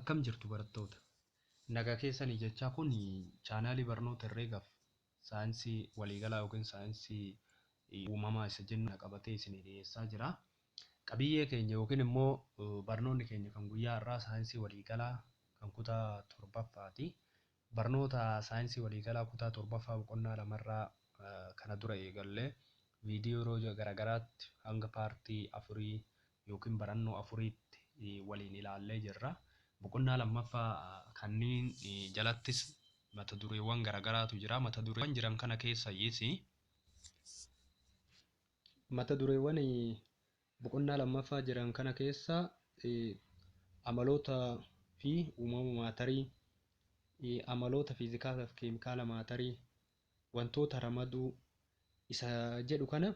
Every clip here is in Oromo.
Akkam jirtu barattoota? Nagaa keessanii jechaa kun chaanaalii barnoota herreegaaf saayinsii waliigalaa yookiin saayinsii uumamaa isa jennu kana qabatee isinii dhiyeessaa jira. Qabiyyee keenya yookiin immoo barnoonni keenya kan guyyaa har'aa saayinsii waliigalaa kan kutaa torbaffaati. Barnoota Saayinsii Waliigalaa Kutaa 7ffaa Boqonnaa 2 irraa kana dura eegallee viidiyoo yeroo garagaraatti hanga paartii 4 ykn barannoo 4tti waliin ilaallee jirra. Boqonnaa 2ffaa kanniin jalattis mata dureewwan garagaraatu jira. Mata dureewwan jiran kana keessayyis mata dureewwan Boqonnaa lammaffaa jiran kana keessa amaloota fi uumama maatarii, amaloota fiizikaala fi keemikaala maatarii, wantoota ramaduu isa jedhu kana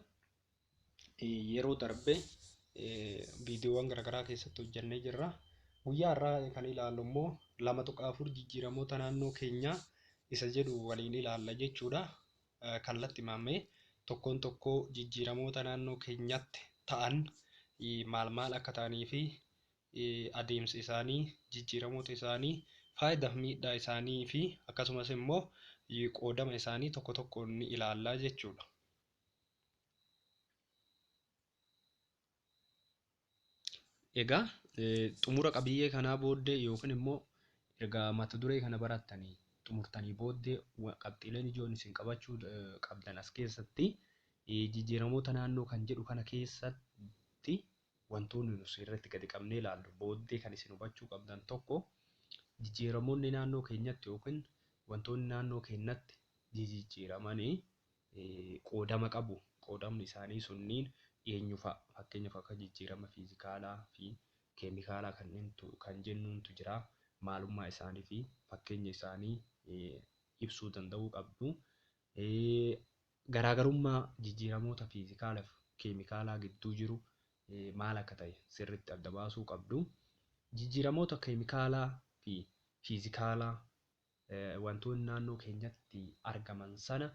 yeroo darbe viidiyoowwan garaagaraa keessatti hojjannee jirra. Guyyaa har'aa kan ilaallu immoo lama tuqaa afur jijjiiramoota naannoo keenyaa isa jedhu waliin ilaalla jechuudha. Kallatti Maammee, Tokkoon tokkoo jijjiiramoota naannoo keenyatti ta'an maal maal akka ta'anii fi adeemsi isaanii, jijjiiramoota isaanii, faayidaaf miidhaa isaanii fi akkasumas immoo qoodama isaanii tokko tokkoon ni ilaalla jechuudha. Egaa xumura qabiyyee kanaa booddee yookiin immoo erga mata duree kana barattanii xumurtanii booddee qabxiileen ijoon isin qabachuu qabdan as keessatti jijjiiramoota naannoo kan jedhu kana keessatti wantoonni nuti irratti gadi qabnee ilaallu booddee kan isin hubachuu qabdan tokko jijjiiramoonni naannoo keenyatti yookiin wantoonni naannoo keenyatti jijjiiramanii qoodama qabu. Qoodamni isaanii sunniin eenyu fa'a? Fakkeenyaaf akka jijjiirama fiizikaalaa fi keemikaalaa kanneentu kan jennuuntu jira. Maalummaa isaanii fi fakkeenya isaanii ibsuu danda'uu qabdu. Garaagarummaa jijjiiramoota fiizikaalaa fi keemikaalaa gidduu jiru maal akka ta'e sirriitti adda baasuu qabdu. Jijjiiramoota keemikaalaa fi fiizikaalaa wantoonni naannoo keenyatti argaman sana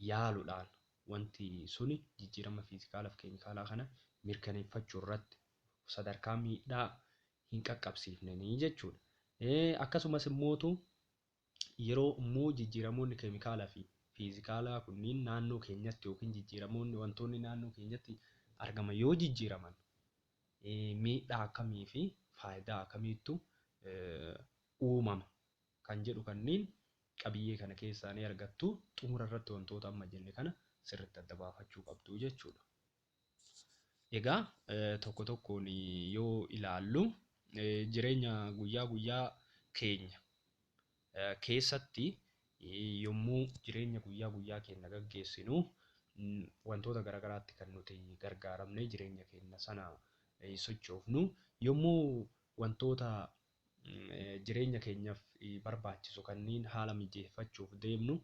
yaaluudhaan wanti suni jijjiirama fiizikaalaa fi keemikaalaa kana mirkaneeffachuu irratti sadarkaa miidhaa hin qaqqabsiifneni jechuudha. Akkasumas immootu yeroo immoo jijjiiramoonni keemikaalaa fi fiizikaalaa kunniin naannoo keenyatti yookiin jijjiiramoonni wantoonni naannoo keenyatti argaman yoo jijjiiraman miidhaa akkamii fi faayidaa akkamiittu uumama kan jedhu kanneen qabiyyee kana keessaa ni argattu. Xumura irratti wantoota amma jenne kana sirriitti adda baafachuu qabdu jechuudha. Egaa tokko tokkoon yoo ilaallu jireenya guyyaa guyyaa keenya keessatti yommuu jireenya guyyaa guyyaa keenya gaggeessinu wantoota garaagaraatti kan nuti gargaaramne jireenya keenya sana sochoofnu yommuu wantoota jireenya keenyaaf barbaachisu kanneen haala mijeeffachuuf deemnu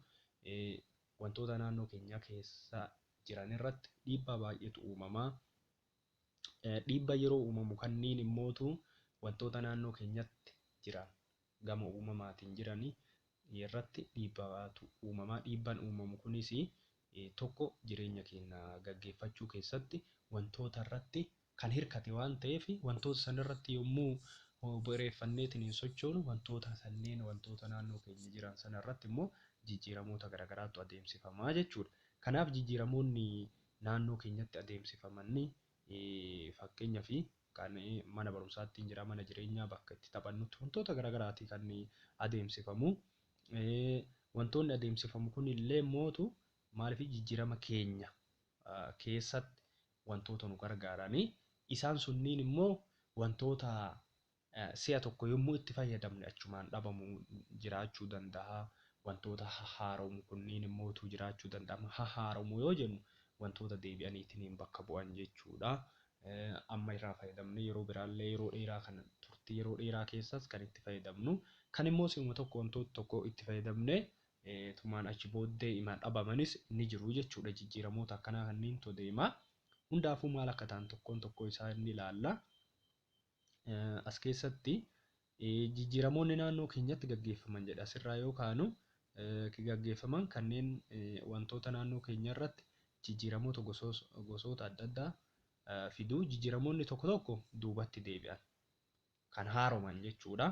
wantoota naannoo keenyaa keessa jiran irratti dhiibbaa baay'eetu uumama. Dhiibba yeroo uumamu kanneen immootu wantoota naannoo keenyatti jiran gama uumamaatiin jirani irratti dhiibbaatu uumama. Dhiibban uumamu kunis tokko jireenya keenna gaggeeffachuu keessatti wantoota irratti kan hirkate waan ta'eef wantoota san irratti yommuu bu'ereeffanneetiin sochoonu wantoota sanneen wantoota naannoo keenya jiran sana irratti immoo jijjiiramoota garagaraatu adeemsifama jechuudha. Kanaaf jijjiiramoonni naannoo keenyatti adeemsifaman fakkeenyafi kan mana barumsaa ittiin jira, mana jireenyaa, bakka itti taphannutti wantoota garagaraati kan adeemsifamu. Wantoonni adeemsifamu kunillee mootu maaliif jijjiirama keenya keessatti wantoota nu gargaarani. Isaan sunniin immoo wantoota si'a tokko yommuu itti fayyadamne achumaan dhabamu jiraachuu danda'a. Wantoota hahaaromu kunniin immootu jiraachuu danda'ama. Hahaaromu yoo jennu wantoota deebi'aniitiin bakka bu'an jechuudha. amma irraa fayyadamnee yeroo biraallee yeroo dheeraa kan turtii yeroo dheeraa keessaas kan itti fayyadamnu kan immoo si'uma tokko wantoota tokko itti fayyadamnee tumaan achi booddee ima dhabamanis ni jiru jechuudha jijjiiramoota akkanaa kanneentu deema hundaafuu maal akka ta'an tokkoon tokkoo isaa inni ilaalla. As keessatti jijjiiramoonni naannoo keenyatti gaggeeffaman jedha. Asirraa yoo kaanu gaggeeffaman kanneen wantoota naannoo keenya irratti jijjiiramoota gosoota adda addaa fidu. Jijjiiramoonni tokko tokko duubatti deebi'an kan haaroman jechuudha.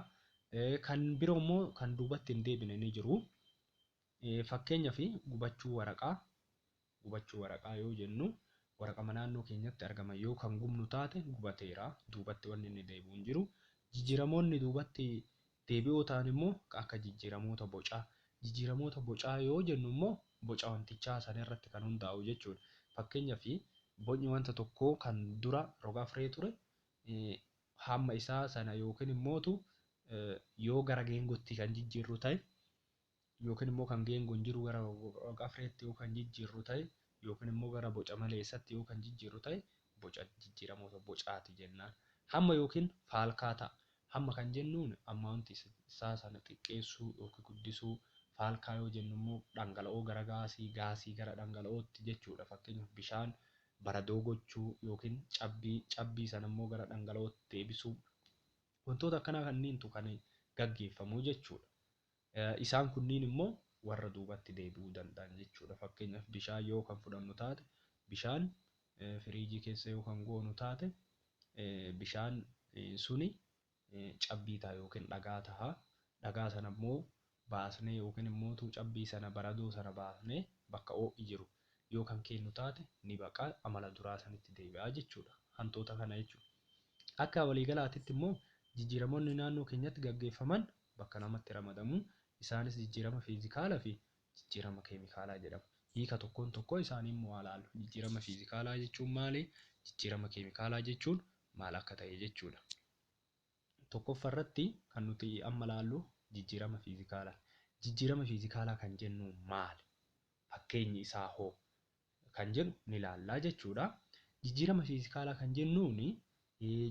Kan biroo immoo kan duubatti hin deebine ni jiru. Fakkeenyaaf gubachuu waraqaa Gubachuu waraqaa yoo jennu waraqama naannoo keenyatti argaman yoo kan gubnu taate gubateera, duubatti wanni inni deebi'u hin jiru. Jijjiiramoonni duubatti deebi'oo ta'an immoo kan akka jijjiiramoota bocaa. Jijjiiramoota bocaa yoo jennu immoo boca wantichaa san irratti kan hundaa'u jechuu dha. Fakkeenyaaf bocni wanta tokkoo kan dura rog-afree ture hamma isaa sana yookiin immootu yoo gara geengootti kan jijjiirru ta'e yookiin immoo kan geengoon jiru gara rog-afreetti yoo kan jijjiirru ta'e yookiin immoo gara boca maleessatti yoo kan jijjiirru ta'e boca jijjiiramoota bocaati jennaan. Hamma yookiin faalkaataa. Hamma kan jennuun amount isaa sana xiqqeessuu yookiin guddisuu, faalkaa yoo jennu immoo dhangala'oo gara gaasii, gaasii gara dhangala'ootti jechuudha. Fakkeenyaaf bishaan baradoo gochuu yookiin cabbii, cabbii sana immoo gara dhangala'ootti deebisuu. Wantoota akkanaa kanniintu kan gaggeeffamu jechuudha. Isaan kunniin immoo warra duubatti deebi'uu danda'an jechuudha. Fakkeenyaaf bishaan yoo kan fudhannu taate bishaan firiijii keessa yoo kan goonu taate bishaan suni cabbii ta'a yookiin dhagaa ta'a. Dhagaa sana immoo baasnee yookiin immoo utuu cabbii sana baradoo sana baasnee bakka ho'i jiru yoo kan keennu taate ni baqa amala duraa sanitti deebi'a jechuudha. Hantuuta kana jechuudha. Akka waliigalaatitti immoo jijjiiramoonni naannoo keenyatti gaggeeffaman bakka namatti ramadamu, isaanis jijjiirama fiizikaalaa fi jijjiirama keemikaalaa jedhamu. Hiika tokkoon tokkoo isaanii immoo haa ilaallu. Jijjiirama fiizikaalaa jechuun maali? Jijjiirama keemikaalaa jechuun maal akka ta'e jechuu dha. Tokkoffaa irratti kan nuti amma ilaallu jijjiirama fiizikaalaa. Jijjiirama fiizikaalaa kan jennu maali? Fakkeenyi isaa hoo? kan jedhu ni ilaalla jechuu dha. Jijjiirama fiizikaalaa kan jennuun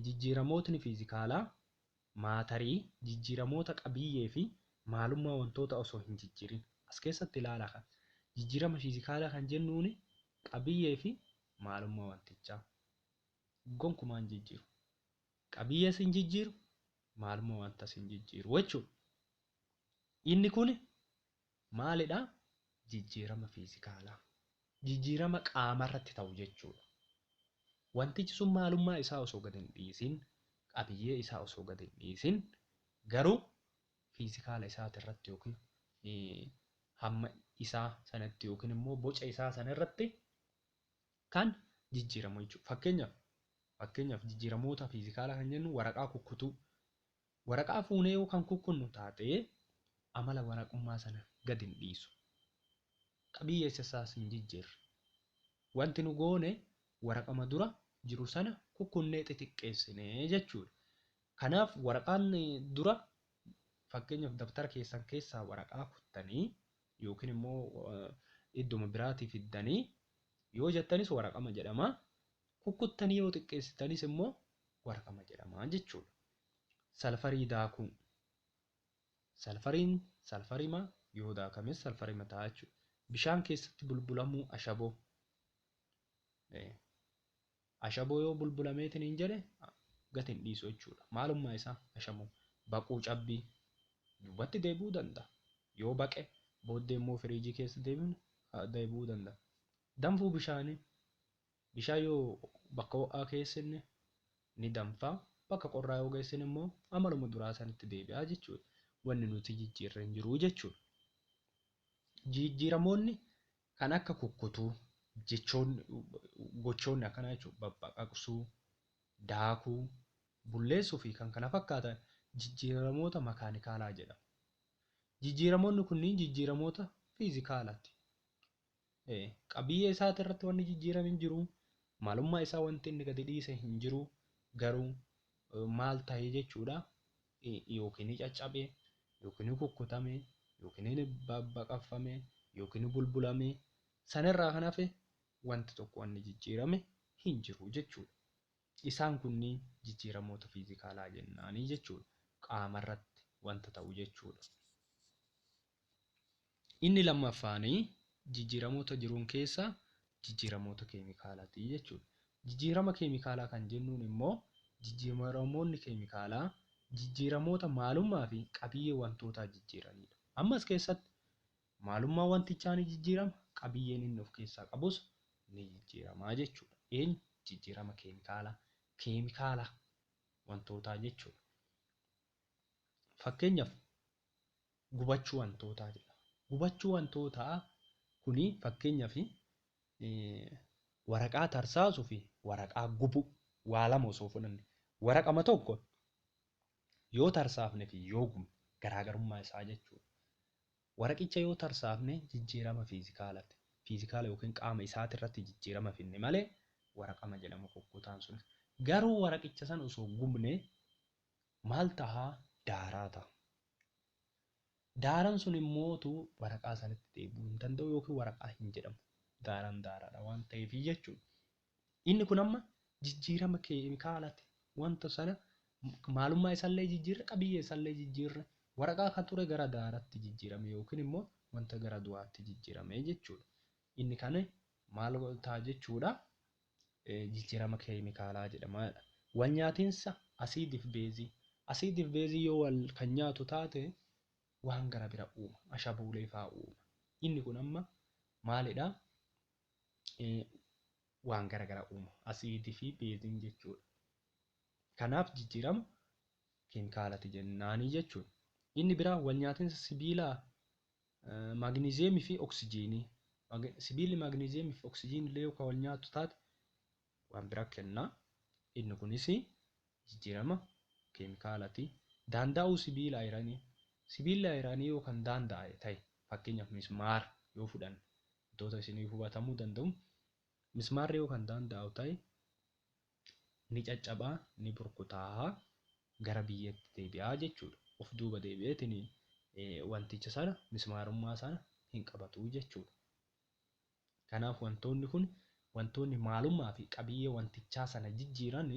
jijjiiramootni fiizikaalaa Maatarii, jijjiiramoota qabiyyee fi maalummaa wantoota osoo hin jijjiirin. As keessatti ilaala ka. Jijjiirama fiizikaalaa kan jennuun qabiyyee fi maalummaa wantichaa gonkumaa hin jijjiiru. Qabiyyees hin jijjiiru, maalummaa wantas hin jijjiiru jechuudha. Inni kun Maalidha? Jijjiirama fiizikaalaa. Jijjiirama qaamarratti ta'u jechuudha. Wantichi sun maalummaa isaa osoo gad hin dhiisin, qabiyyee isaa osoo gad hin dhiisin, garuu fiizikaala isaati irratti yookiin hamma isaa sanatti yookiin immoo boca isaa sana irratti kan jijjiiramu jechuudha. Fakkeenyaaf fakkeenyaaf jijjiiramoota fiizikaalaa kan jennu waraqaa kukkutuu Waraqaa fuunee yoo kan kukkunnu taate amala waraqummaa sana gad hin dhiisu. Qabiyyeessa isaas hin jijjiirre. Wanti nu goone waraqama dura jiru sana kukkunnee xixiqqeessine jechuudha. Kanaaf waraqaan dura fakkeenyaaf dabtara keessan keessaa waraqaa kuttanii yookiin immoo iddoma biraatii fiddanii yoo jettanis waraqama jedhama. Kukkuttanii yoo xiqqeessitanis immoo warqama jedhama jechuudha. Salfarii daakuu. Salfariin salfarima yoo daakames salfarima ta'a jechuudha. Bishaan keessatti bulbulamuu ashaboo. Ashaboo yoo bulbulameetiin hin jedhe gati hin dhiisu jechuudha. Maalummaa isaa ashaboo. Baquu cabbii duubatti deebi'uu danda'a. Yoo baqe booddee immoo firiijii keessa deebi'uu danda'a. Danfuu bishaanii Bishaan yoo bakka ho'aa keessinne ni danfa, bakka qorraa yoo geessine immoo amaluma duraa sanitti deebi'a jechuudha. Wanni nuti jijjiirre hin jiru jechuudha. Jijjiiramoonni kan akka kukkutuu, jechoonni, gochoonni akkanaa jechuudha, babbaqaqsuu, daakuu, bulleessuu fi kan kana fakkaatan jijjiiramoota makaanikaalaa jedhamu. Jijjiiramoonni kunniin jijjiiramoota fiizikaalaati. Qabiyyee isaati irratti wanni jijjiirame hin jiru. Maalummaa isaa wanti inni gadi dhiise hin jiru. Garuu maal ta'e jechuudha yookiin ni caccabe yookiin ni kukkutame yookiin ni babbaqaffame yookiin ni bulbulame sanirraa kan hafe wanti tokko wanni jijjiirame hin jiru jechuudha. Isaan kunniin jijjiiramoota fiizikaalaa jennaanii jechuudha. Qaama irratti wanta ta'u jechuudha. Inni lammaffaan jijjiiramoota jiruun keessa jijjiiramoota keemikaalaati jechuudha. Jijjiirama keemikaalaa kan jennuun immoo jijjiiramoonni keemikaalaa jijjiiramoota maalummaa fi qabiyyee wantootaa jijjiiranidha. Amma as keessatti maalummaan wantichaa ni jijjiirama, qabiyyeen inni of keessaa qabus ni jijjiirama jechuudha. Eenyu? Jijjiirama keemikaalaa. Keemikaala wantootaa jechuudha. Fakkeenyaaf gubachuu wantootaa jedhama. Gubachuu wantootaa kuni fakkeenyaaf waraqaa tarsaasuu fi waraqaa gubuu waa lama osoo fudhanne waraqama tokko yoo tarsaafne fi yoo gubne garaagarummaa isaa jechuudha. Waraqicha yoo tarsaafne jijjiirama fiizikaalati. Fiizikaala yookiin qaama isaati irratti jijjiirama finne malee waraqama jedhama kukkutaan sunis. Garuu waraqicha san osoo gubne Maal taha? Daaraa taha. Daaran sun immoo tu waraqaa sanitti deebi'uu hin danda'u yookiin waraqaa hin jedhamu. Daaran daaraadha waan ta'eefi jechuudha. Inni kun amma jijjiirama keemikaalati. Wanta sana maalummaa isallee jijjiirre, qabiyyee isallee jijjiirre, waraqaa kan ture gara daaratti jijjiirame yookiin immoo wanta gara du'aatti jijjiirame jechuudha. Inni kan maal ta'a jechuudha? jijjiirama keemikaalaa jedhama jedha. Walnyaatinsa asiidiif beezii. Asiidiif beezii yoo wal kan nyaatu taate waan gara bira uuma. Ashabuulee faa uuma. Inni kun amma maalidha? Waan gara gara uuma. Asiidii fi beeziin jechuudha. Kanaaf jijjiirama keemikaalati jennaanii jechuudha. Inni biraa walnyaatinsa sibiilaa Maagniziyeemii fi oksijiinii. Sibiilli maagniziyeemii fi oksijiinii illee yoo kan wal nyaatu taate waan biraa kenna. Inni kunis jijjiirama keemikaalati. Daanda'uu sibiila ayiranii. Sibiilli ayiranii yoo kan daanda'e ta'e fakkeenyaaf mismaara yoo fudhanne wantoota isin hubatamuu danda'u mismaarri yoo kan daanda'u ta'e ni caccaba, ni burkutaa'a, gara biyyeetti deebi'a jechuudha. Of duuba deebi'eetiin wanticha sana mismaarummaa sana hin qabatu jechuudha. Kanaaf wantoonni kun wantoonni maalummaa fi qabiyyee wantichaa sana jijjiiran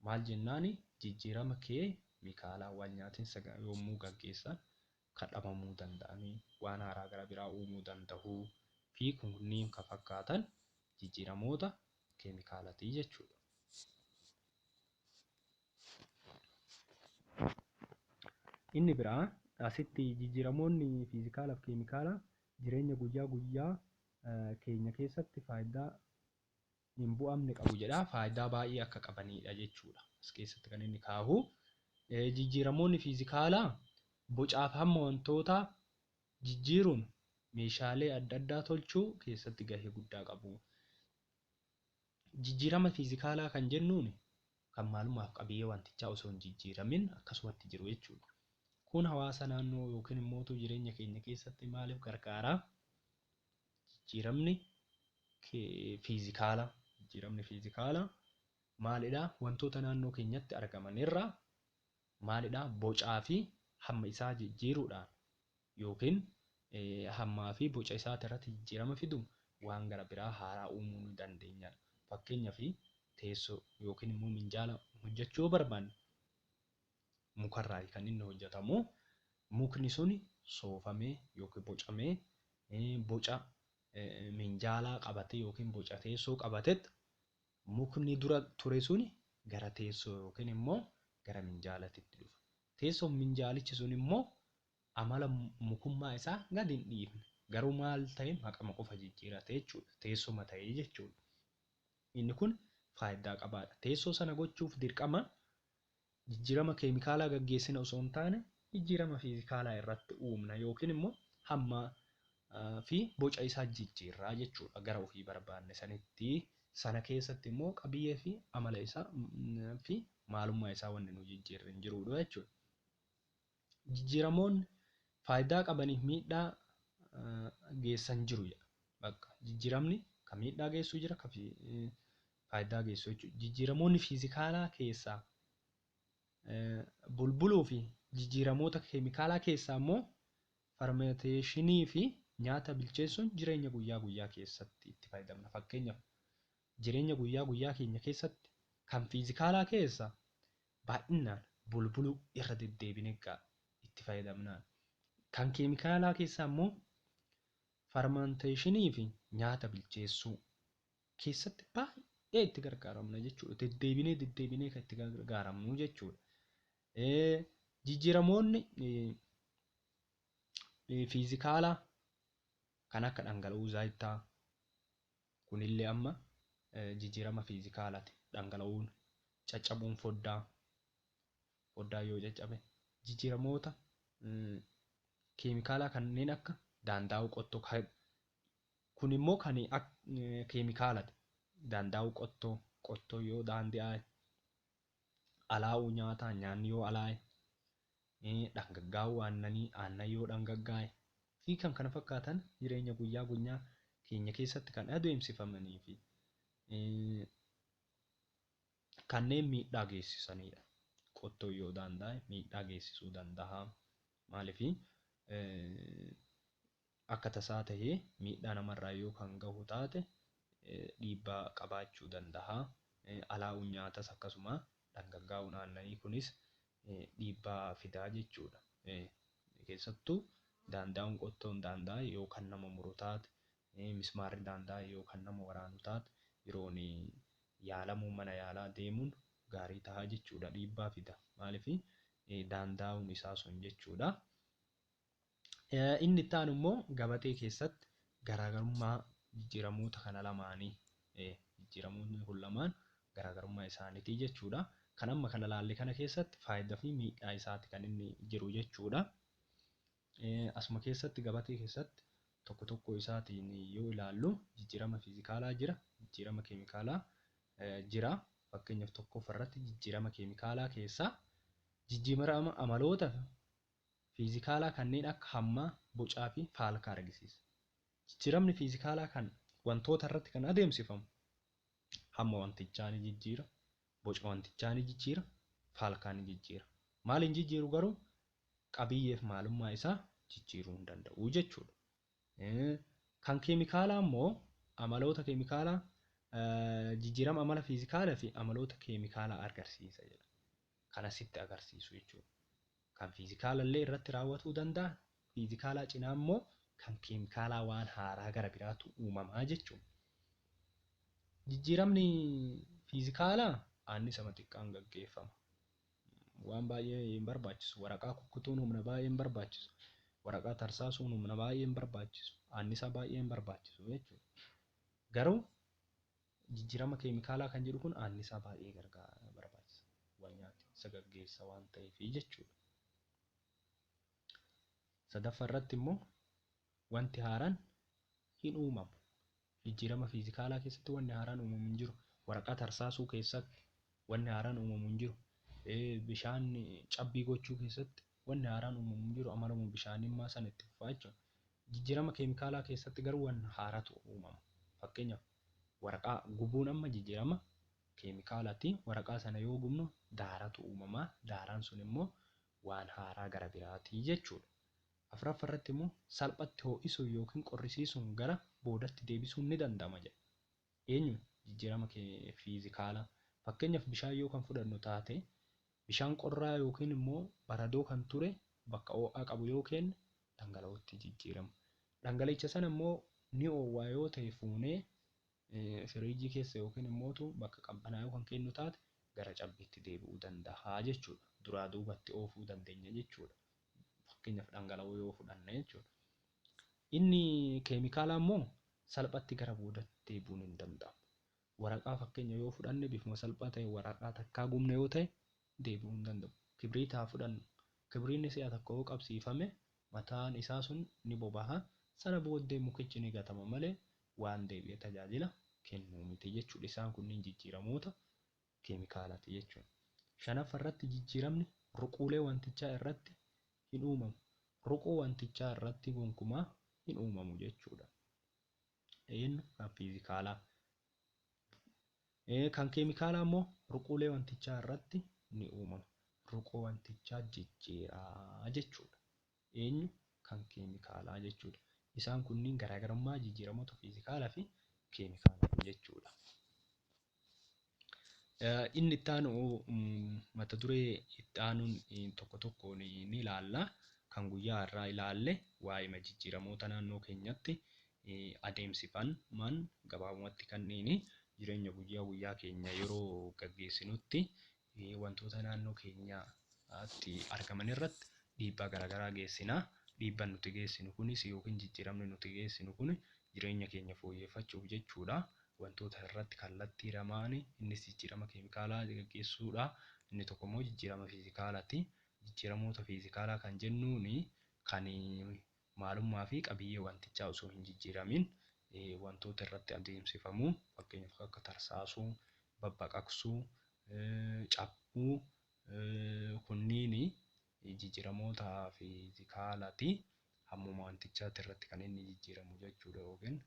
maal jennaan jijjiirama keemikaalaa wal nyaatinsa yommuu gaggeessan ka dhabamuu danda'anii, waan haaraa gara biraa uumuu dandahuu fi kunniin ka fakkaatan jijjiiramoota keemikaalati jechuu dha. Inni biraa asitti jijjiiramoonni fiizikaala fi keemikaalaa jireenya guyyaa guyyaa keenya keessatti faayiddaa hin bu'amne qabu jedha. Faayidaa baay'ee akka qabaniidha jechuudha as keessatti kan inni kaahu. Jijjiiramoonni fiizikaalaa bocaaf hamma wantootaa jijjiiruun meeshaalee adda addaa tolchuu keessatti gahee guddaa qabu. Jijjiirama fiizikaalaa kan jennuun kan maalumaaf qabiyyee wantichaa osoo hin jijjiiramin akkasumatti jiru jechuudha. Kun hawaasa naannoo yookiin immoo jireenya keenya keessatti maaliif gargaara? Jijjiiramni fiizikaalaa jijjiiramni fiizikaalaa maalidhaa? Wantoota naannoo keenyatti argaman irraa maalidhaa? Bocaa fi hamma isaa jijjiiruudhaan yookiin hammaa fi boca isaati irratti jijjiirama fidu waan gara biraa haaraa uumuu ni dandeenya. Fakkeenyaaf teessoo yookiin immoo minjaala hojjechuu yoo barbaanne mukarraayi kan inni hojjatamu. Mukni suni soofamee yookiin bocamee boca minjaalaa qabatee yookiin boca teessoo qabatet mukni dura ture suni gara teessoo yookiin immoo gara minjaalatitti dhufa. Teessoof minjaalichi sun immoo amala mukummaa isaa gad hin dhiifne. Garuu maal ta'e maqama qofa jijjiirate jechuudha. Teessuma ta'e jechuudha. Inni kun faayiddaa qabaadha. Teessoo sana gochuuf dirqama jijjiirama keemikaalaa gaggeessina osoo hin taane jijjiirama fiizikaalaa irratti uumna yookiin immoo hamma fi boca isaa jijjiirraa jechuudha gara ofii barbaanne sanitti sana keessatti immoo qabiyyee fi amala isaa fi maalummaa isaa wanni nu jijjiirri hin jiruudha jechuudha. Jijjiiramoonni faayidaa qabaniif miidhaa geessan jiru jedha. Bakka jijjiiramni kan miidhaa geessu jira, kan faayidaa geessu jechuudha. Jijjiiramoonni fiizikaalaa keessaa bulbuluu fi jijjiiramoota keemikaalaa keessaa immoo farmeeteeshinii fi nyaata bilcheessuun jireenya guyyaa guyyaa keessatti itti fayyadamna. Fakkeenyaaf jireenya guyyaa guyyaa keenya keessatti kan fiizikaalaa keessa baay'innaan bulbuluu irra deddeebine egaa itti fayyadamnaan. Kan keemikaalaa keessaa immoo farmaanteeshinii fi nyaata bilcheessuu keessatti baay'ee itti gargaaramna jechuudha. Deddeebinee deddeebinee kan itti gargaaramnu jechuudha. Jijjiiramoonni fiizikaalaa kan akka dhangala'uu zaayitaa, Kunillee amma jijjiirama fiizikaalaati. Dhangala'uun, caccabuun foddaa, foddaan yoo caccabe, jijjiiramoota keemikaalaa kanneen akka daandaa'uu qottoo kan kunimmoo kan keemikaalati. Daandaa'uu qottoo, qottoo yoo daandi'aa alaa'uu nyaataa, nyaanni yoo alaa'e, dhangaggaa'uu aannanii, aannan yoo dhangaggaa'e, fi kan kana fakkaatan jireenya guyyaa gunyaa keenya keessatti kan adeemsifamanii fi kanneen miidhaa geessisaniidha. Qottoon yoo daandaa'e miidhaa geessisuu danda'a. Maaliif akka tasaa tahee miidhaa nama irraa yoo kan gahu taate dhiibbaa qabaachuu dandaha. Alaa'uun nyaatas akkasuma dhangaggaa'uun aannanii kunis dhiibbaa fidaa jechuudha. Keessattuu daandaa'uun qottoon daandaa'e yoo kan nama muru taate, mismaarri daandaa'e yoo kan nama waraanu taate yeroon yaalamuu mana yaalaa deemuun gaarii taha jechuudha. Dhiibbaa fida. Maaliif daandaa'uun isaa sun jechuudha. Inni itti aanu immoo gabatee keessatti garaagarummaa jijjiiramoota kana lamaanii jijjiiramoonni kun lamaan garaagarummaa isaaniitii jechuudha. Kan amma kana laalle kana keessatti faayidaa fi miidhaa isaati kan inni jiru jechuudha. Asuma keessatti gabatee keessatti tokko tokkoo isaatiin yoo ilaallu jijjiirama fiizikaalaa jira, jijjiirama keemikaalaa jira. Fakkeenyaaf tokkoffaa irratti jijjiirama keemikaalaa keessaa jijjiirama amaloota fiizikaalaa kanneen akka hammaa, bocaa fi faalkaa argisiisa. Jijjiiramni fiizikaalaa kan wantoota irratti kan adeemsifamu hamma wantichaa ni jijjiira, boca wantichaa ni jijjiira, faalkaa ni jijjiira. Maaliin jijjiiru garuu qabiyyeef maalummaa isaa jijjiiruu hin danda'u jechuudha. Kan keemikaalaa immoo amaloota keemikaalaa jijjiirama amala fiizikaalaa fi amaloota keemikaalaa agarsiisa jedha. Kan asitti agarsiisu jechuudha. Kan fiizikaala illee irratti raawwatuu danda'a. Fiizikaalaa cinaa immoo kan keemikaalaa waan haaraa gara biraatu uumamaa jechuudha. Jijjiiramni fiizikaalaa aannisama xiqqaan gaggeeffama. waan baay'ee hin barbaachisu. Waraqaa kukkutuun humna baay'ee hin barbaachisu. Waraqaa tarsaasuun humna baay'ee hin barbaachisu. Aannisaa baay'ee hin barbaachisu jechuudha. Garuu jijjiirama keemikaalaa kan jedhu kun aannisaa baay'ee gargaara barbaachisa. Wal nyaate isa gaggeessa waan ta'eef jechuudha. Sadaffaa irratti immoo Wanti haaraan hin uumamu. Jijjiirama fiizikaalaa keessatti wanni haaraan uumamu hin jiru. Waraqaa tarsaasuu keessatti wanni haaraan uumamu hin jiru. Bishaan cabbii gochuu keessatti wanni haaraan uumamu hin jiru. Amaluma bishaanimmaa sana itti fufaa jechuudha. Jijjiirama keemikaalaa keessatti garuu wanna haaratu uumama. Fakkeenyaaf waraqaa gubuun amma jijjiirama keemikaalaati. Waraqaa sana yoo gubnu daaratu uumama. Daaraan sun immoo waan haaraa gara biraati jechuudha. Afraffa irratti immoo salphatti hoo'isuun ykn qorrisiisuun gara boodatti deebisuun ni danda'ama jedha. Eenyu? Jijjiirama fiizikaalaa. Fakkeenyaaf bishaan yoo kan fudhannu taate bishaan qorraa ykn immoo baradoo kan ture bakka oo'aa qabu yoo keenne dhangala'ootti jijjiirama. Dhangala'icha sana immoo ni oowwaa yoo ta'e fuunee firiijii keessa yookiin immootu bakka qabbanaayuu kan keennu taate gara cabbiitti deebi'uu dandaha jechuudha. Duraa duubatti oofuu dandeenya jechuudha. Fakkeenyaaf dhangala'oo yoo fudhanne jechuudha. Inni keemikaalaa immoo salphatti gara boodatti deebi'uun hin danda'amu. Waraqaa fakkeenya yoo fudhanne bifuma salphaa ta'e waraqaa takkaa gubne yoo ta'e deebi'uu hin danda'u. Kibriita haa fudhannu. Kibriinni si'a tokko yoo qabsiifame Mataan isaa sun ni bobaha, sana booddee mukichi ni gatama malee waan deebi'ee tajaajila kennu miti jechuudha. Isaan kunniin jijjiiramoota keemikaalaati jechuudha. Shanaffa irratti jijjiiramni ruquulee wantichaa irratti hin uumamu. Ruqoo wantichaa irratti gonkumaa hin uumamu jechuudha. Eenyu kan fiizikaalaa. Kan keemikaalaa immoo ruquulee wantichaa irratti ni uumama. Ruqoo wantichaa jijjiiraa jechuudha. Eenyu kan keemikaalaa jechuudha. Isaan kunniin garaagarummaa jijjiiramoota fiizikaalaa fi keemikaalaa jechuudha. Inni itti aanu mata duree itti aanuun tokko tokkoon ni ilaalla. Kan guyyaa har'aa ilaalle waa'ima jijjiiramoota naannoo keenyatti adeemsifaman gabaabumatti kan dhiini jireenya guyyaa guyyaa keenya yeroo gaggeessinutti wantoota naannoo keenyaatti argaman irratti dhiibbaa garaagaraa geessina. Dhiibbaan nuti geessinu kunis yookiin jijjiiramni nuti geessinu kun jireenya keenya fooyyeffachuuf jechuudha. Wantoota irratti kallattii lamaan innis jijjiirama keemikaalaa gaggeessuudha. Inni tokko immoo jijjiirama fiizikaalaati. Jijjiiramoota fiizikaalaa kan jennuun kan Maalummaa fi qabiyyee wantichaa osoo hin jijjiiramiin wantoota irratti adeemsifamu, fakkeenyaaf kan akka tarsaasuu, babbaqaqsuu, caphuu, kunniin jijjiiramoota fiizikaala ti. Hammuma wantichaati irratti kan inni jijjiiramu jechuu dha yookiin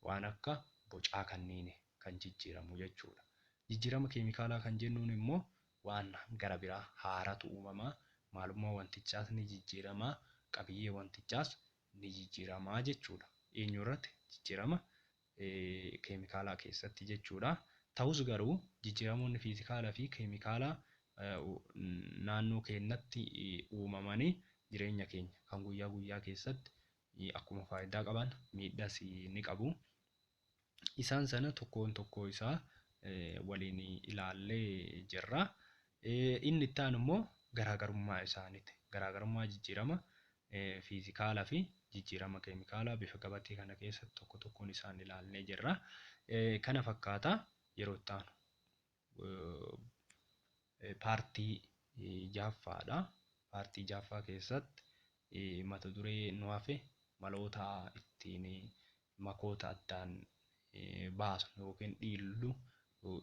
waan akka bocaa kanniini. kan jijjiiramu jechuudha. Jijjiirama keemikaalaa kan jennuun immoo waan gara biraa haaratu uumama, maalummaa wantichaas ni jijjiirama, qabiyyee wantichaas ni jijjiirama jechuudha. Eenyu irratti? Jijjiirama keemikaalaa keessatti jechuudha. Ta'us garuu jijjiiramoonni fiizikaalaa fi keemikaalaa naannoo keenyatti uumamanii jireenya keenya kan guyyaa guyyaa keessatti akkuma faayidaa qaban miidhas ni qabu. Isaan sana tokkoon tokkoo isaa waliin ilaallee jirra. Inni itti aanu immoo garaagarummaa isaaniiti. Garaagarummaa jijjiirama fiizikaalaa fi jijjiirama keemikaalaa bifa gabatee kana keessatti tokko tokkoon isaan ilaallee jirra. Kana fakkaata yeroo itti aanu. paartii jahaffaadha. Paartii jahaffaa keessatti mata duree nu hafe maloota ittiin makoota addaan baasnu yookiin dhiillu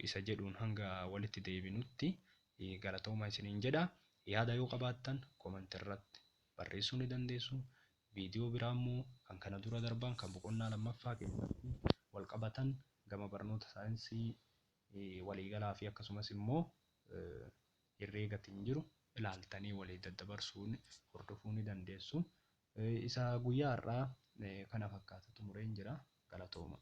isa jedhuun hanga walitti deebinutti galatooma isiniin jedha. Yaada yoo qabaattan comment irratti barreessuu ni dandeessu. Viidiyoo biraa immoo kan kana dura darban kan boqonnaa lammaffaa keessatti wal qabatan gama barnoota saayinsii waliigalaa fi akkasumas immoo herreegatiin jiru ilaaltanii walii daddabarsuun hordofuu ni dandeessu. Isa guyyaa har'aa kana fakkaata xumureen jira. Galatoomaa.